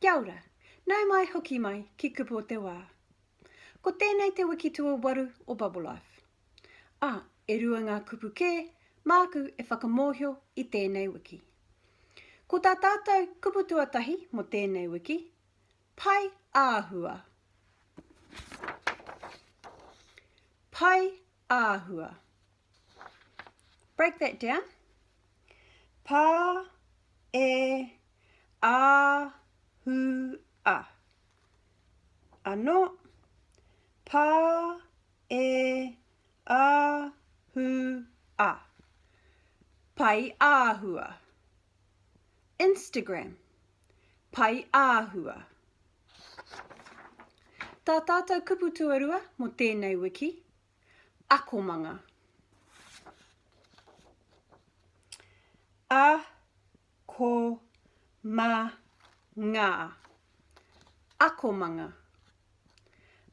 Kia ora, nau mai hoki mai ki Kupu o te Wā. Ko tēnei te wiki tuawaru o Bubblelife. A, e rua ngā kupu kē māku e whakamōhio i tēnei wiki. Ko tā tātou kupu tuatahi mō tēnei wiki, Pai āhua. Pai āhua. break that down, pa e a hu a. Ano, pa e a hu a. Pai ahua. Instagram, pai ahua. Tā tātou kupu tuarua mō tēnei wiki, akomanga. A-ko-ma-nga, akomanga.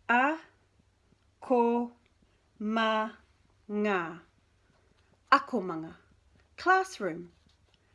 A-ko-ma-nga, akomanga. Classroom,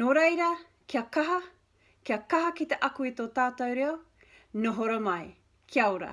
Nō reira, kia kaha, kia kaha ki te ako i tō tātou reo, nohora mai. Kia ora.